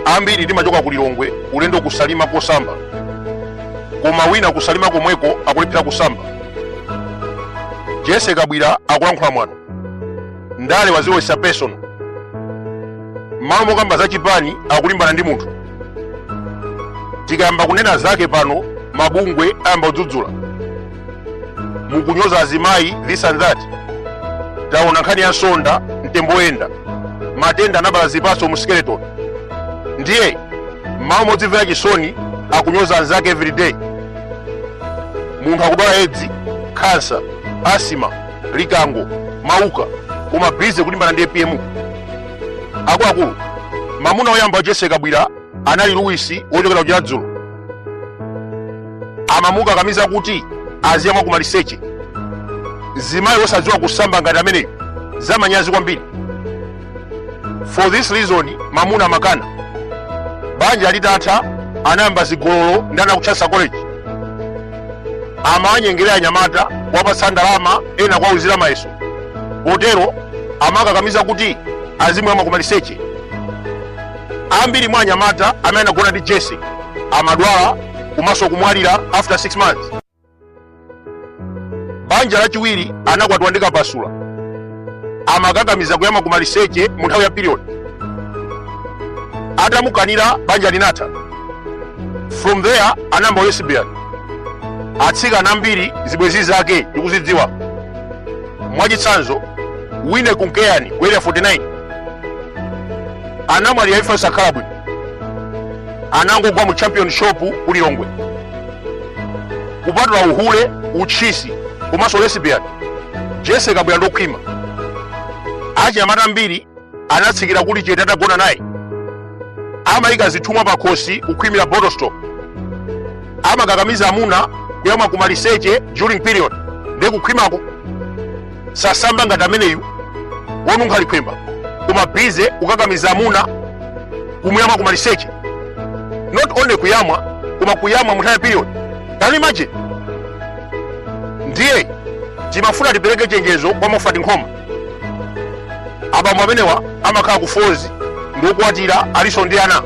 ambiri timachoka ku lilongwe ulendo ku salima kosamba koma wina ku salima komweko akulephera kusamba jessie kabwila akulankhula mwano ndale waziwesa personal mmalo mokamba za chipani akulimbana ndi munthu tikayamba kunena zake pano mabungwe ayamba kudzudzula mukunyoza azimayi this and that taona nkhani ya nsonda mtembo woyenda matenda anabala zipatso mu skeleton ndiye mmalo modzimvera chisoni akunyoza anzake everyday munthu akudwala edzi khansa asima likango mauka koma bize kulimbana ndi apm akuluakulu mamuna oyamba wa jessie kabwila anali luwisi wochokera ku chiradzulu amamukakamiza kuti aziyamwa ku maliseche mzimayi wosadziwa kusamba ngati ameneyo zamanyazi kwambiri for this reason mamuna amakana banja litatha anayamba zigololo ndi ana aku chancellor college amawanyengerera anyamata kuwapatsa ndalama ena kuwauzira mayeso potero amakakamiza kuti azimuyamwa ku maliseche ambiri mwa anyamata amene anagona ndi jessie amadwala komanso kumwalira after 6 months banja lachiwiri anakwatiwa ndi kapasula amakakamiza kuyamwa kumaliseche mu nthawi ya period atamukanira banja linatha from there anayamba lesbian atsikana ambiri zibwenzi zake tikuzidziwa mwachitsanzo wine kunkeyani ku area 49 anamwalira imfa yosakhala bwino anangogwa mu champion shop ku lilongwe kupatula uhule utchisi komanso lesbian jessie kabwila ndokhwima achinyamata ambiri anatsikira kuli chete atagona naye amayika zithumwa pa khosi kukhwimira bottle store amakakamiza amuna kuyamwa kumaliseche during period ndi kukhwimako sasamba ngati ameneyu wonunkha likhwemba koma bize kukakamiza amuna kumuyamwa ku maliseche not only kuyamwa koma kuyamwa mu nthawi ya period can you imagine ndiye timafuna tipereke chenjezo kwa moffat nkhoma abambo amenewa amakhala ku falls ndiokwatira alinso ndi ana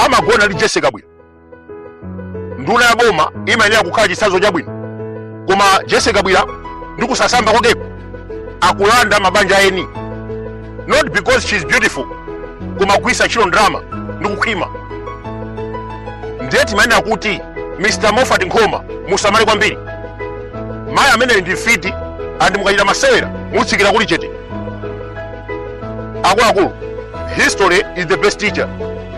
amagona ndi jessie kabwila nduna ya boma imayenera kukhala chitsanzo chabwino koma jese kabwira ndi kusasamba kwakeko akulanda mabanja a eni not because she is beautiful koma kugwiritsa ntchito ndalama ndi kukhwima ndiye timayenera kuti mr moffat nkhoma musamale kwambiri mayi ameneyi ndi mfiti andi mukachita masewera mutsikira kuli chete akuluakulu history is the best teacher